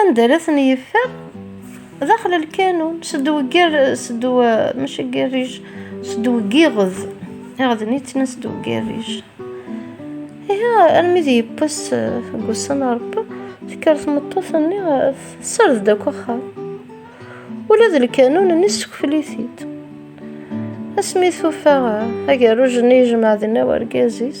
anda ara ten yeffer daxel lkanun sed weggar sed maca garrij sed weggiɣed iɣden yettnan sed weggarrij iha armi d yewwas deg ussan rebbi tekker tmeṭṭut-nni tessard-d akk axxam ula d lkanun-nni ssekfel-it-id asmi tufa agerruj-nni yejmeɛ dinna wergaz-is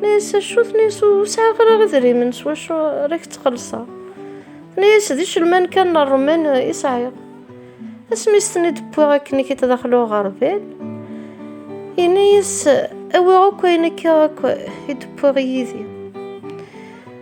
Mais s acu tenna-yas ur sɛiɣ ara idrimen s wacu ara k-ttxelṣeɣ. Tenna-yas d icelman kan n ṛṛuman i sɛiɣ. Asmi i s-ten-id wwiɣ akken i k-id-daxel uɣerbal, yenna-yas awi akk ayen akka akk i d-wwiɣ yid-i.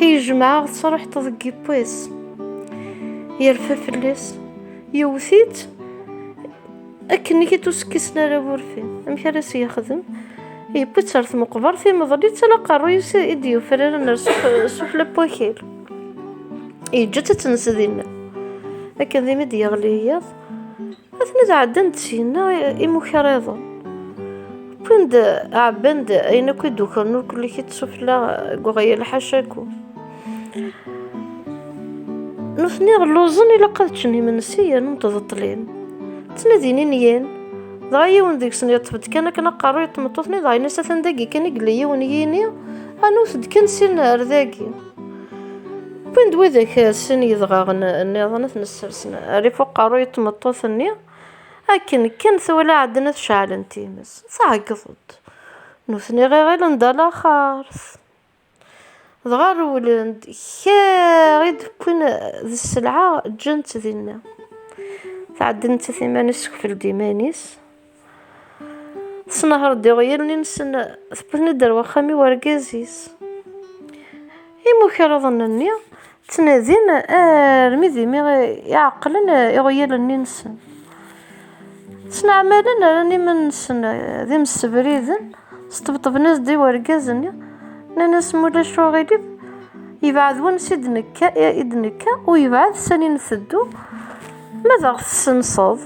Yejmeɛ tesreḥt deg yiwwas. Yerfa fell-as. Yewwet-itt akken i t-usekkisen ara wurfi. Amek ara s-yexdem? Yewwi-tt ɣer tmeqbert, imeḍl-itt ala aqerruy-is i d-yufraren ar sufla n wakal. Yeǧǧa-tt ad tens dinna. Akken dimi d-yeɣli yiḍ, Atni tɛeddan-d syenna imukaṛiḍen. Wwin-d, ɛebban-d ayen akk i d-ukren ur kulli kit sufella deg uɣyal ḥacaku. Nutni lluẓen ilaq ad ččen imensi yernu mteḍḍlin. Ttnadin inyen, dɣa yiwen deg-sen yeṭṭef-d kan akken aqerru i tmeṭṭut-nni dɣa yenna-as atan dagi kan i yella yiwen yini, anewt-d kan syenna ar dagi. Win d widak sin yedɣaɣen nniḍen ad ten-ssersen ar ifuq aqerruy n tmeṭṭut-nni, akken kan twala Ɛedna tceɛlen times, tɛeggeḍ-d. Nutni ɣiɣilen d alaxert. Dɣa rewlen-d, kra i d-wwin d sselɛa ǧǧan-tt dinna. Tɛedden-tt iman-is, ssekfel-d iman-is. Tesnehreḍ iɣyalen-nsen, tewwet-ten-id ar waxxam i urgaz-is. Imukraḍen-nni ttnadin armi d imi i ɛeqlen iɣyalen-nsen. Ttneɛmalen rran iman-nsen d imessebriden, sṭebṭben-as-d i urgaz-nni, nnan-as ma ulac aɣilif yebɛed wansi i d-nekka, i d-nekka u yebɛed sani nteddu, ma d aɣ-tessenseḍ.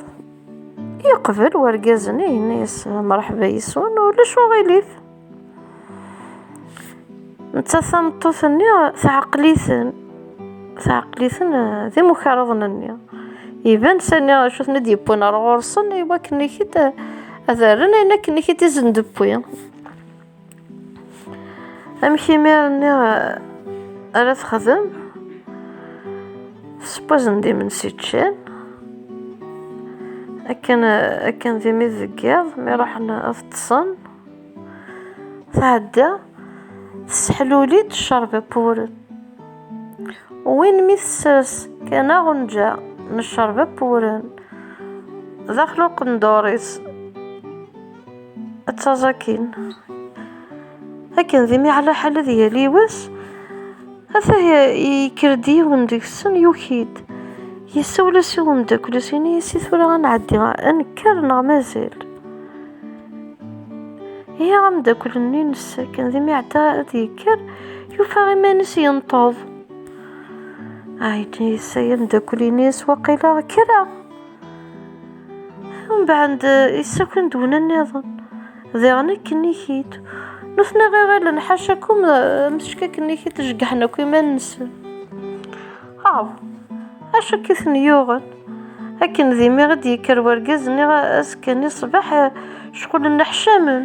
Yeqbel urgaz-nni yenna-yas mṛeḥba yes-wen ulac uɣilif. Nettat tameṭṭut-nni tɛeql-iten, tɛeql-iten eh, d imukaṛaḍen-nni. Iban sani acu ten-id yewwin ar ɣur-sen i wakken-ik-id ad rren ayen akken-ik-id izen d-wwi. amek imir-nni eh, ara texdem spuzen d imensi ččan akken eh, akken d imi deg yiḍ mi ruḥen ad ṭṭsen tɛedda tesseḥluli-d ccerb appuren win mi tessers kan aɣenǧa n ccerb appuren daxel uqendur-is ad taẓ akin akken d imi ɛla ḥal ad yali wass ata yekker-d yiwen deg-sen yuki-d yessawel-as i umeddakel-is ini-as i tura ad nɛeddi ad nekker neɣ mazal ihi ameddakel-nni nnes akken d imi ɛedda ad yekker yufa iman-is yenṭeḍ ɛeddi yessa ameddakel-ini-as waqila kkreɣ Mbeɛd isakken d wna nniḍen, diɣen akken niki-d. Nutni ɣiɣilen ḥaca akum msečk akken niki tjegḥen akk iman-nsen. Aw, acu akka i ten-yuɣen? Akken d imi i d-yekker wergaz-nni azekka-nni ṣṣbeḥ, cɣulen neḥcamen.